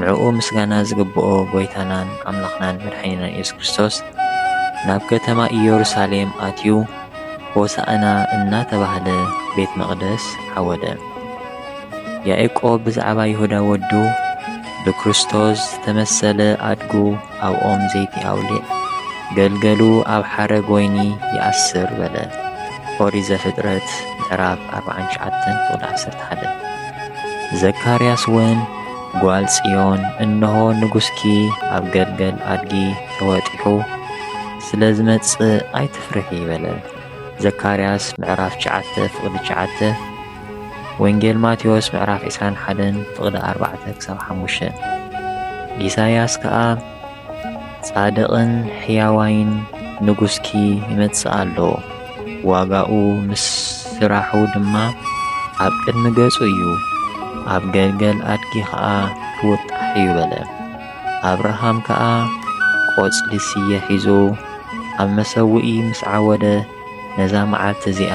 ንዕኡ ምስጋና ዝግብኦ ጐይታናን ኣምላኽናን መድሓኒናን ኢየሱስ ክርስቶስ ናብ ከተማ ኢየሩሳሌም ኣትዩ ሆሣዕና እናተባህለ ቤት መቕደስ ዓወደ። ያዕቆብ ብዛዕባ ይሁዳ ወዱ ብክርስቶስ ዝተመሰለ ኣድጉ ኣብ ኦም ዘይቲ ኣውሊዕ፣ ገልገሉ ኣብ ሓረግ ወይኒ ይኣስር በለ። ኦሪት ዘፍጥረት ምዕራፍ ኣርብዓን ትሽዓተን ቁጥሪ ዓሰርተ ሓደ ዘካርያስ እውን ጓል ጽዮን እንሆ ንጉስኪ ኣብ ገልገል ኣድጊ ተወጢሑ ስለ ዝመጽእ ኣይትፍርሒ በለ። ዘካርያስ ምዕራፍ ትሽዓተ ፍቕዲ ትሽዓተ ወንጌል ማቴዎስ ምዕራፍ ዕስራን ሓደን ፍቕዲ ኣርባዕተ ክሳብ ሓሙሽተ ኢሳይያስ ከኣ ጻድቕን ሕያዋይን ንጉስኪ ይመጽእ ኣሎ ዋጋኡ ምስ ስራሑ ድማ ኣብ ቅድሚ ገጹ እዩ ኣብ ገልገል ኣድጊ ኸኣ ክውጣሕ እዩ በለ ኣብርሃም ከኣ ቈጽሊ ስየ ሒዙ ኣብ መሰውኢ ምስ ዓወደ ነዛ መዓልቲ እዚኣ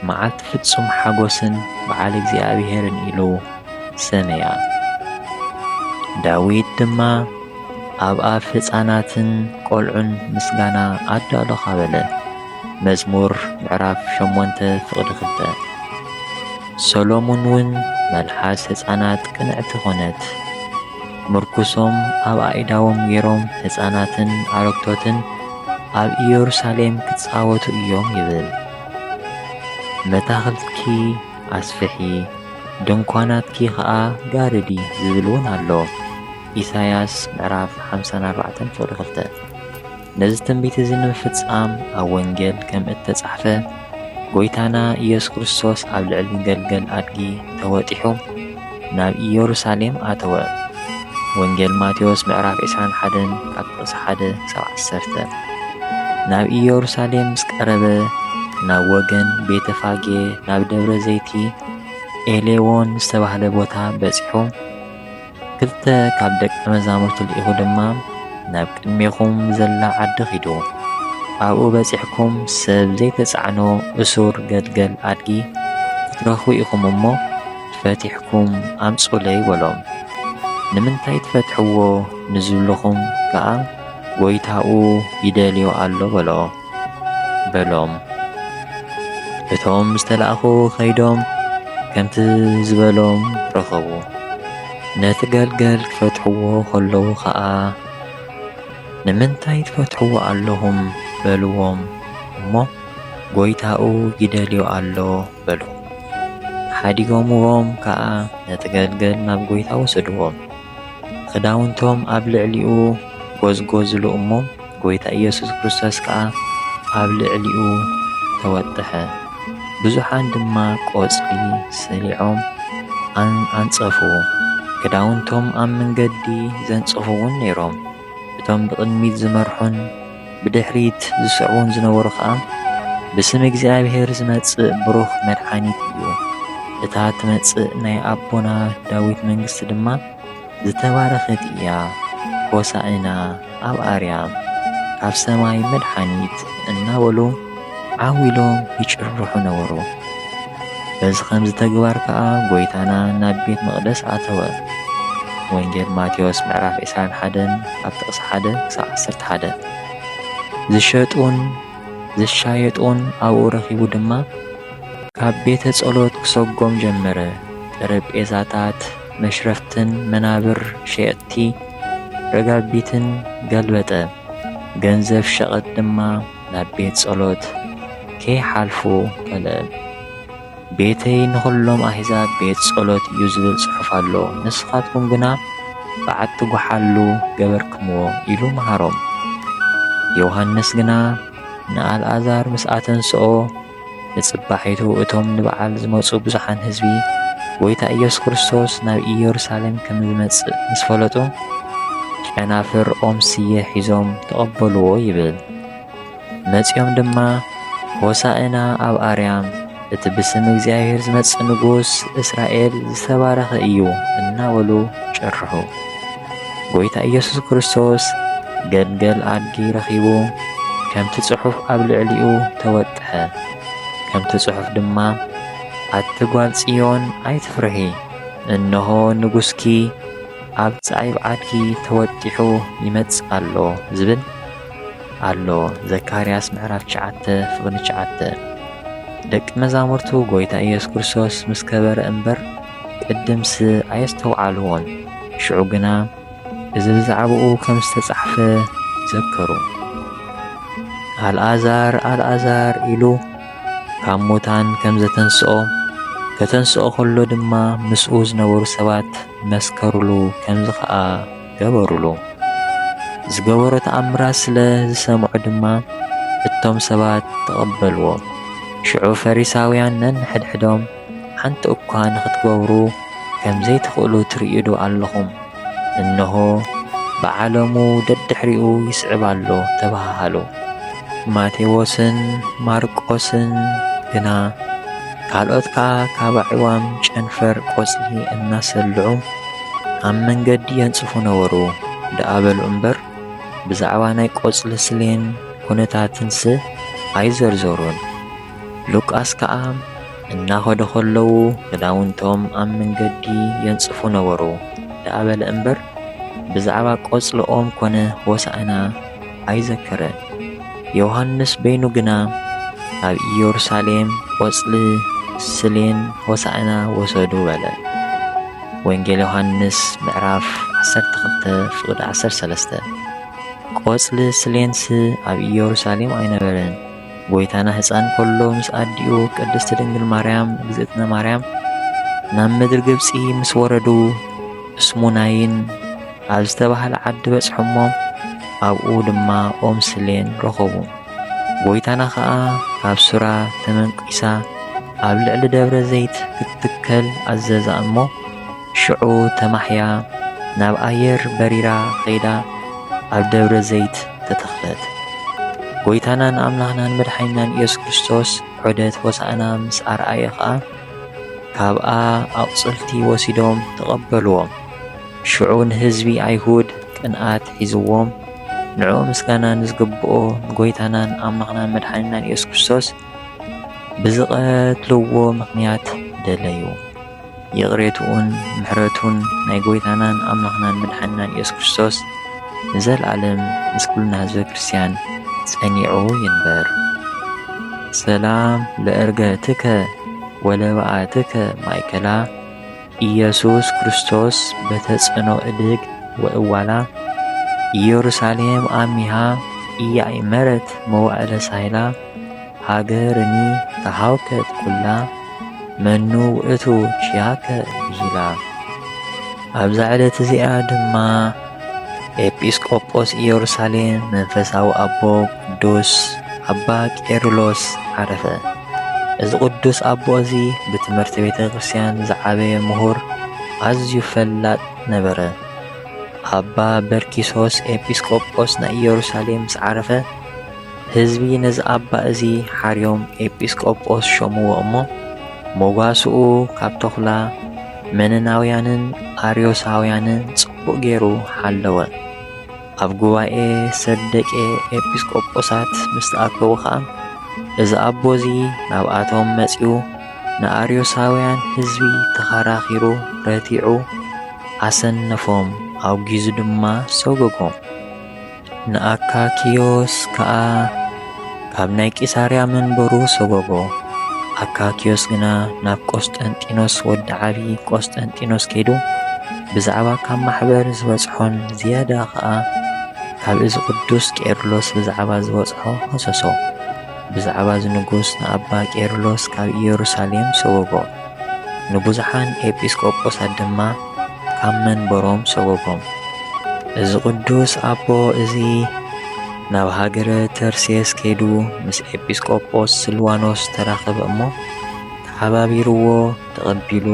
መዓልቲ ፍጹም ሓጐስን በዓል እግዚኣብሔርን ኢሉ ሰመያ። ዳዊት ድማ ኣብ ኣፍ ሕፃናትን ቆልዑን ምስጋና ኣዳሎኻ በለ። መዝሙር ምዕራፍ ሸሞንተ ፍቕዲ ክልተ ሰሎሙን እውን መልሓስ ሕፃናት ቅንዕቲ ኾነት። ምርኩሶም ኣብ ኣኢዳዎም ገይሮም ሕፃናትን ኣረግቶትን ኣብ ኢየሩሳሌም ክጻወቱ እዮም ይብል። መታኽልትኪ ኣስፍሒ ድንኳናትኪ ኸኣ ጋርዲ ዝብል እውን ኣሎ። ኢሳይያስ ምዕራፍ ሓምሳን ኣርባዕተን ፍቕዲ ክልተ ነዚ ትንቢት እዚ ንምፍጻም ኣብ ወንጌል ከም እተጻሕፈ ጐይታና ኢየሱስ ክርስቶስ ኣብ ልዕሊ ገልገል ኣድጊ ተወጢሑ ናብ ኢየሩሳሌም ኣተወ። ወንጌል ማቴዎስ ምዕራፍ ዕስራን ሓደን ካብ ጥቕሲ ሓደ ክሳብ ዓሰርተ። ናብ ኢየሩሳሌም ምስ ቀረበ ናብ ወገን ቤተ ፋጌ ናብ ደብረ ዘይቲ ኤሌዎን ዝተባህለ ቦታ በጺሑ ክልተ ካብ ደቂ መዛሙርቱ ልኢኹ ድማ ናብ ቅድሜኹም ዘላ ዓዲ ኺዱ ኣብኡ በጺሕኩም ሰብ ዘይተጻዕኖ እሱር ገድገል ኣድጊ ክትረኽቡ ኢኹም እሞ ፈቲሕኩም ኣምጹለይ በሎም። ንምንታይ ትፈትሕዎ ንዝብልኹም ከኣ ጐይታኡ ይደልዮ ኣሎ በሎ በሎም። እቶም ዝተላእኹ ከይዶም ከምቲ ዝበሎም ረኸቡ። ነቲ ገልገል ክፈትሕዎ ከለዉ ኸኣ ንምንታይ ትፈትሕዎ ኣለኹም በልዎም እሞ ጐይታኡ ይደልዮ ኣሎ በሉ። ሓዲጎምዎም ከኣ ነቲ ገልገል ናብ ጐይታ ወሰድዎም። ኽዳውንቶም ኣብ ልዕሊኡ ጐዝጐዝሉ እሞ፣ ጐይታ ኢየሱስ ክርስቶስ ከኣ ኣብ ልዕሊኡ ተወጥሐ። ብዙኃን ድማ ቈጽሊ ሰሊዖም ኣንጸፉ፣ ክዳውንቶም ኣብ መንገዲ ዘንጽፉውን ነይሮም፣ እቶም ብቕድሚት ዝመርሑን። ብድሕሪት ዝስዕቡን ዝነበሩ ኸኣ፣ ብስም እግዚኣብሄር ዝመጽእ ብሩኽ መድሓኒት እዩ፣ እታ እትመጽእ ናይ ኣቦና ዳዊት መንግስቲ ድማ ዝተባረኸት እያ፣ ሆሣእና ኣብ ኣርያም፣ ካብ ሰማይ መድሓኒት እናበሉ፣ ዓው ኢሎም ይጭርሑ ነበሩ። በዚ ኸምዚ ተግባር ከኣ ጐይታና ናብ ቤት መቕደስ ኣተወ። ወንጌል ማቴዎስ ምዕራፍ ዕስራን ሓደን ካብ ጥቕሲ ሓደ ክሳብ ዓሰርተ ሓደ ዝሸጡን ዝሻየጡን ኣብኡ ረኺቡ ድማ ካብ ቤተ ጸሎት ክሰጎም ጀመረ። ጠረጴዛታት፣ መሽረፍትን መናብር ሸየጥቲ ረጋቢትን ገልበጠ፣ ገንዘብ ሸቐጥ ድማ ናብ ቤት ጸሎት ከይሓልፉ ከልእም። ቤተይ ንኹሎም ኣህዛብ ቤት ጸሎት እዩ ዝብል ጽሑፍ ኣሎ፣ ንስኻትኩም ግና በዓቲ ጐሓሉ ገበርክምዎ ኢሉ መሃሮም። ዮሃንስ ግና ንኣልኣዛር ምስ ኣተንስኦ ንጽባሒቱ እቶም ንበዓል ዝመጹ ብዙሓን ህዝቢ፣ ጎይታ ኢየሱስ ክርስቶስ ናብ ኢየሩሳሌም ከም ዝመጽእ ምስ ፈለጡ፣ ጨናፍር ኦም ስየ ሒዞም ተቐበልዎ ይብል። መጺኦም ድማ ሆሣዕና ኣብ ኣርያም፣ እቲ ብስም እግዚኣብሔር ዝመጽእ ንጉሥ እስራኤል ዝተባረኸ እዩ እናበሉ ጭርሑ። ጎይታ ኢየሱስ ክርስቶስ ገልገል ኣድጊ ረኺቡ ከምቲ ጽሑፍ ኣብ ልዕሊኡ ተወጥሐ። ከምቲ ጽሑፍ ድማ ኣቲ ጓል ጽዮን ኣይትፍርሂ፣ እነሆ ንጉስኪ ኣብ ጻይብ ዓድጊ ተወጢሑ ይመጽእ ኣሎ ዝብል ኣሎ። ዘካርያስ ምዕራፍ ትሽዓተ ፍቕዲ ትሽዓተ ደቂ መዛሙርቱ ጎይታ ኢየሱስ ክርስቶስ ምስ ከበረ እምበር ቅድምስ ኣየስተውዓልዎን፣ ሽዑ ግና እዚ ብዛዕባኡ ከም ዝተጻሕፈ ዘከሩ። ኣልኣዛር! ኣልኣዛር! ኢሉ ካብ ሙታን ከም ዘተንስኦ፣ ከተንስኦ ከሎ ድማ ምስኡ ዝነበሩ ሰባት መስከሩሉ፣ ከምዚ ኸኣ ገበሩሉ። ዝገበሮ ተኣምራት ስለ ዝሰምዑ ድማ እቶም ሰባት ተቐበልዎ። ሽዑ ፈሪሳውያን ነንሕድሕዶም ሓንቲ እኳ ንኽትገብሩ ከም ዘይትኽእሉ ትርእዩዶ ኣለኹም? እንሆ፣ ብዓለሙ ደድሕሪኡ ይስዕብ ኣሎ ተበሃሃሉ። ማቴዎስን ማርቆስን ግና ካልኦት ከኣ ካብ ኣዕዋም ጨንፈር ቆጽሊ እናሰልዑ ኣብ መንገዲ የንጽፉ ነበሩ ደኣ በሉ እምበር፣ ብዛዕባ ናይ ቆጽሊ ስሌን ኩነታትንስ ኣይዘርዘሩን። ሉቃስ ከኣ እናኸዱ ኸለዉ ኽዳውንቶም ኣብ መንገዲ የንጽፉ ነበሩ ደኣ በለ እምበር፣ ብዛዕባ ቈጽሊ ኦም ኰነ ሆሣዕና ኣይዘከረን። ዮሓንስ በይኑ ግና ኣብ ኢየሩሳሌም ቈጽሊ ስሌን ሆሣዕና ወሰዱ በለ። ወንጌል ዮሓንስ ምዕራፍ ዓሰርተ ክልተ ፍቕዲ ዓሰርተ ሰለስተ ቈጽሊ ስሌንስ ኣብ ኢየሩሳሌም ኣይነበረን። ጎይታና ህፃን ከሎ ምስ ኣዲኡ ቅድስቲ ድንግል ማርያም እግዝእትነ ማርያም ናብ ምድሪ ግብፂ ምስ ወረዱ እስሙናይን ኣብ ዝተባህለ ዓዲ በፅሑ እሞ ኣብኡ ድማ ኦም ስሌን ረኸቡ። ጎይታና ከዓ ካብ ሱራ ተመንቂሳ ኣብ ልዕሊ ደብረ ዘይት ክትትከል ኣዘዛ እሞ ሽዑ ተማሕያ ናብ ኣየር በሪራ ኸይዳ ኣብ ደብረ ዘይት ተተኽለት። ጐይታናን ኣምላኽናን መድሓኒናን ኢየሱስ ክርስቶስ ዑደት ሆሳእና ምስ ኣርኣየ ኸኣ ካብኣ ኣቝጽልቲ ወሲዶም ተቐበልዎም። ሽዑ ንህዝቢ ኣይሁድ ቅንኣት ሒዝዎም ንዕኡ ምስጋና ንዝግብኦ ንጎይታናን ኣምላኽናን መድሓኒናን ኢየሱስ ክርስቶስ ብዝቐትልዎ ምኽንያት ደለዩ። ይቕሬትኡን ምሕረቱን ናይ ጎይታናን ኣምላኽናን መድሓኒናን ኢየሱስ ክርስቶስ ንዘልኣለም ምስ ኩልና ህዝበ ክርስቲያን ጸኒዑ ይንበር። ሰላም ለእርገትከ ወለበኣትከ ማእከላ ኢየሱስ ክርስቶስ በተጽዕኖ እድግ ወእዋላ ኢየሩሳሌም ኣሚሃ ኢያእመረት መዋእለ ሳይላ ሃገርኒ ተሃውከት ኩላ መኑ ውእቱ ቺያከ ብሂላ። ኣብዛ ዕለት እዚኣ ድማ ኤጲስቆጶስ ኢየሩሳሌም መንፈሳዊ ኣቦ ቅዱስ ኣባ ቄርሎስ ዓረፈ። እዚ ቅዱስ ኣቦ እዚ ብትምህርቲ ቤተ ክርስቲያን ዝዓበየ ምሁር ኣዝዩ ፈላጥ ነበረ። ኣባ በርኪሶስ ኤጲስቆጶስ ናይ ኢየሩሳሌም ምስ ዓረፈ ህዝቢ ነዚ ኣባ እዚ ሓርዮም ኤጲስቆጶስ ሾምዎ እሞ ሞጓስኡ ካብ ተኹላ መነናውያንን ኣርዮሳውያንን ጽቡቕ ገይሩ ሓለወ። ኣብ ጉባኤ ሰብ ደቄ ኤጲስቆጶሳት ምስ ተኣከቡ ኸኣ እዚ ኣቦ እዚ ናብኣቶም መጺኡ ንኣርዮሳውያን ህዝቢ ተኸራኺሩ ረቲዑ ኣሰነፎም ኣውጊዙ ድማ ሰጎጎም። ንኣካክዮስ ከኣ ካብ ናይ ቂሳርያ መንበሩ ሰጎጎ። ኣካክዮስ ግና ናብ ቆስጠንጢኖስ ወዲ ዓቢ ቆስጠንጢኖስ ከይዱ ብዛዕባ ካብ ማሕበር ዝበጽሖን ዝያዳ ከኣ ካብ እዚ ቅዱስ ቄርሎስ ብዛዕባ ዝበጽሖ ከሰሶ። ብዛዕባ እዚ ንጉስ ንኣባ ቄርሎስ ካብ ኢየሩሳሌም ሰጎጎ። ንብዙሓን ኤጲስቆጶሳት ድማ ኣብ መንበሮም ሰጐጎም። እዚ ቅዱስ ኣቦ እዚ ናብ ሃገረ ተርሴስ ከይዱ ምስ ኤጲስቆጶስ ስልዋኖስ ተራኸበ እሞ ተሓባቢርዎ ተቐቢሉ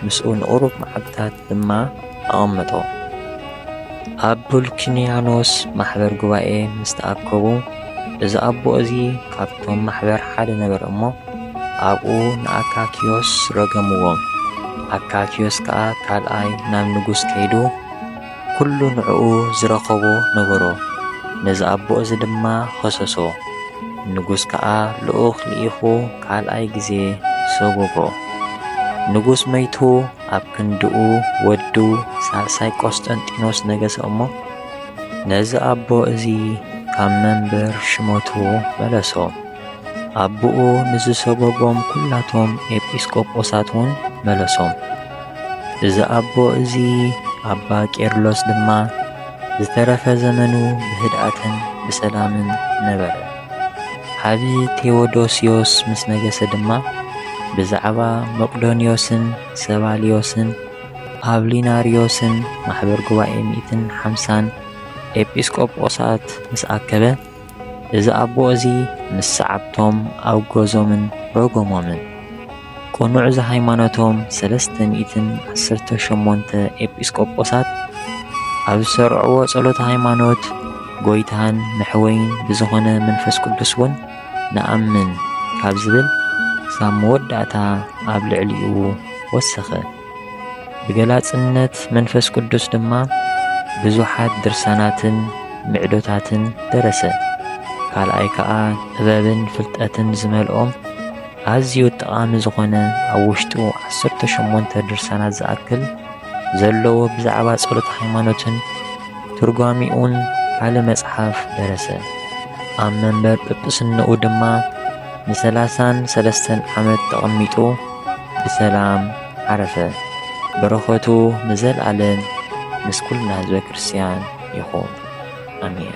ምስኡ ንቕሩብ መዓልታት ድማ ኣቐመጦ። ኣብ ፑልኪንያኖስ ማሕበር ጉባኤ ምስ ተኣከቡ፣ እዚ ኣቦ እዚ ካብቶም ማሕበር ሓደ ነበረ እሞ፣ ኣብኡ ንኣካክዮስ ረገምዎ። ኣካክዮስ ከኣ ካልኣይ ናብ ንጉስ ከይዱ፣ ኵሉ ንዕኡ ዝረኸቦ ነገሮ። ነዚ ኣቦ እዚ ድማ ኸሰሶ። ንጉስ ከኣ ልኡኽ ልኢኹ ካልኣይ ግዜ ሰጐጎ። ንጉስ መይቱ። ኣብ ክንድኡ ወዱ ሳልሳይ ቆስጠንጢኖስ ነገሰ እሞ ነዚ ኣቦ እዚ ካብ መንበር ሽመቱ መለሶ። ኣቦኡ ንዝሰጎጎም ኩላቶም ኤጲስቆጶሳት እውን መለሶም። እዚ ኣቦ እዚ ኣባ ቄርሎስ ድማ ዝተረፈ ዘመኑ ብህድኣትን ብሰላምን ነበረ። ዓቢ ቴዎዶስዮስ ምስ ነገሰ ድማ ብዛዕባ መቅዶንዮስን ሰባልዮስን ኣውሊናርዮስን ማሕበር ጉባኤ ሚእትን ሓምሳን ኤጲስቆጶሳት ምስ ኣከበ እዚ ኣቦ እዚ ምስ ሰዓብቶም ኣውገዞምን ረጎሞምን። ቅኑዕ ዘሃይማኖቶም ሰለስተ ሚእትን ዓሰርተ ሸሞንተ ኤጲስቆጶሳት ኣብ ዝሠርዕዎ ጸሎተ ሃይማኖት ጐይታን መሕወይን ብዝኾነ መንፈስ ቅዱስውን ንኣምን ካብ ዝብል ክሳብ መወዳእታ ኣብ ልዕሊኡ ወሰኸ። ብገላጽነት መንፈስ ቅዱስ ድማ ብዙኃት ድርሳናትን ምዕዶታትን ደረሰ። ካልኣይ ከኣ ጥበብን ፍልጠትን ዝመልኦም ኣዝዩ ጠቓሚ ዝኾነ ኣብ ውሽጡ ዓሰርተ ሸሞንተ ድርሳናት ዝኣክል ዘለዎ ብዛዕባ ጸሎት ሃይማኖትን ትርጓሚኡን ካለ መጽሓፍ ደረሰ። ኣብ መንበር ጵጵስንኡ ድማ ንሰላሳን ሰለስተን ዓመት ተቐሚጡ ብሰላም ዓረፈ። በረኸቱ ንዘልኣለም ምስ ኩልና ህዝበ ክርስቲያን ይኹን። ኣሜን።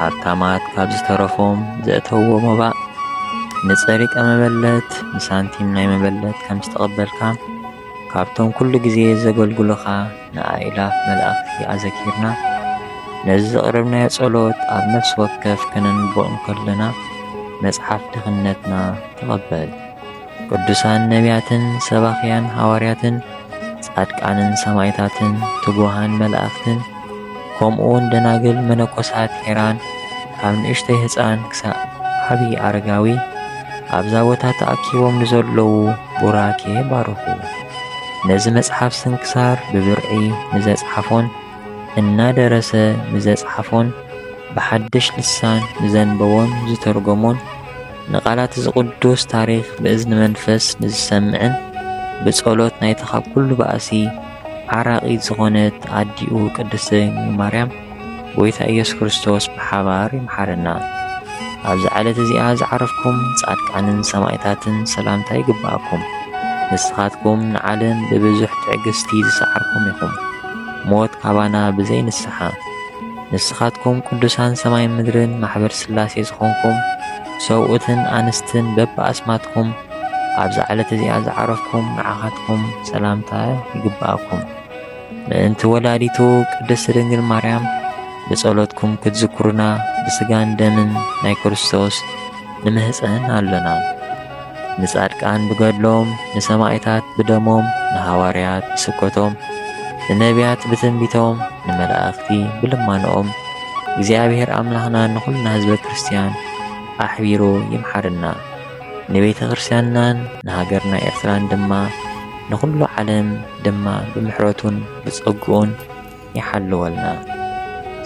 ሃብታማት ካብ ዝተረፎም ዘእተውዎ መባእ ንጸሪቀ መበለት ንሳንቲም ናይ መበለት ከም ዝተቐበልካ ካብቶም ኩሉ ግዜ ዘገልግሉኻ ንኣእላፍ መላእኽቲ ኣዘኪርና ነዚ ዘቕረብናዮ ጸሎት ኣብ ነፍሲ ወከፍ ከነንብቦ እንከለና መጽሓፍ ድኽነትና ተቐበል። ቅዱሳን ነቢያትን ሰባኽያን ሃዋርያትን ጻድቃንን ሰማይታትን ትጉሃን መላእኽትን ከምኡውን ደናግል መነኮሳት ሄራን ካብ ንእሽተይ ህፃን ክሳብ ዓቢ ኣረጋዊ ኣብዛ ቦታ ተኣኪቦም ንዘለዉ ቡራኬ ባርኹ። ነዚ መጽሓፍ ስንክሳር ብብርዒ ንዘጽሓፎን እናደረሰ ንዘጽሓፎን ብሓድሽ ልሳን ንዘንበቦን ዝተርጎሞን ንቓላት እዚ ቅዱስ ታሪኽ ብእዝኒ መንፈስ ንዝሰምዕን ብጸሎት ናይታ ካብ ኩሉ ባእሲ ዓራቒት ዝኾነት ኣዲኡ ቅድስት ድንግል ማርያም ጎይታ ኢየሱስ ክርስቶስ ብሓባር ይምሓረና። ኣብዚ ዓለት እዚኣ ዝዓረፍኩም ጻድቃንን ሰማእታትን ሰላምታ ይግብኣኩም። ንስኻትኩም ንዓለም ብብዙሕ ትዕግስቲ ዝሰዓርኩም ኢኹም፣ ሞት ካባና ብዘይ ንስሓ ንስኻትኩም ቅዱሳን ሰማይን ምድርን ማሕበር ሥላሴ ዝኾንኩም ሰብኡትን ኣንስትን በብኣስማትኩም ኣብዛ ዕለት እዚኣ ዝዓረፍኩም ንዓኻትኩም ሰላምታ ይግብኣኩም። ምእንቲ ወላዲቱ ቅድስት ድንግል ማርያም ብጸሎትኩም ክትዝክሩና ብሥጋን ደምን ናይ ክርስቶስ ንምህጸን ኣሎና። ንጻድቃን ብገድሎም፣ ንሰማኢታት ብደሞም፣ ንሃዋርያት ብስብከቶም፣ ንነብያት ብትንቢቶም፣ ንመላእኽቲ ብልማኖኦም፣ እግዚኣብሔር ኣምላኽና ንኹልና ህዝበ ክርስቲያን ኣሕቢሩ ይምሓረና። ንቤተ ክርስቲያንናን ንሃገርና ኤርትራን ድማ ንኹሉ ዓለም ድማ ብምሕረቱን ብጸግኡን ይሓልወልና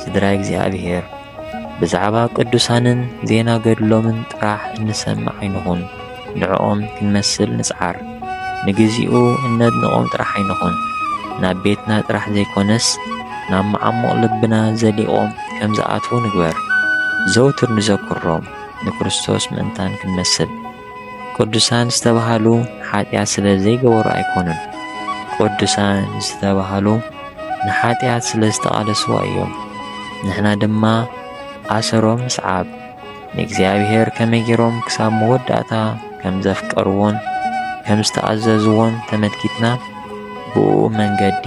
ስድራ እግዚኣብሔር ብዛዕባ ቅዱሳንን ዜና ገድሎምን ጥራሕ እንሰምዕ ኣይንኹን ንዕኦም ክንመስል ንጽዓር ንግዚኡ እነድንቖም ጥራሕ ኣይንኹን ናብ ቤትና ጥራሕ ዘይኮነስ ናብ መዓሙቕ ልብና ዘሊቖም ከም ዝኣትዉ ንግበር ዘውትር ንዘክሮም ንክርስቶስ ምእንታን ክንመስል ቅዱሳን ዝተባህሉ ሓጢኣት ስለ ዘይገበሩ ኣይኮኑን። ቅዱሳን ዝተባህሉ ንሓጢኣት ስለ ዝተቓለስዋ እዮም። ንሕና ድማ ኣሰሮም ንስዓብ። ንእግዚኣብሔር ከመይ ገይሮም ክሳብ መወዳእታ ከም ዘፍቀርዎን ከም ዝተኣዘዝዎን ተመልኪትና ብኡ መንገዲ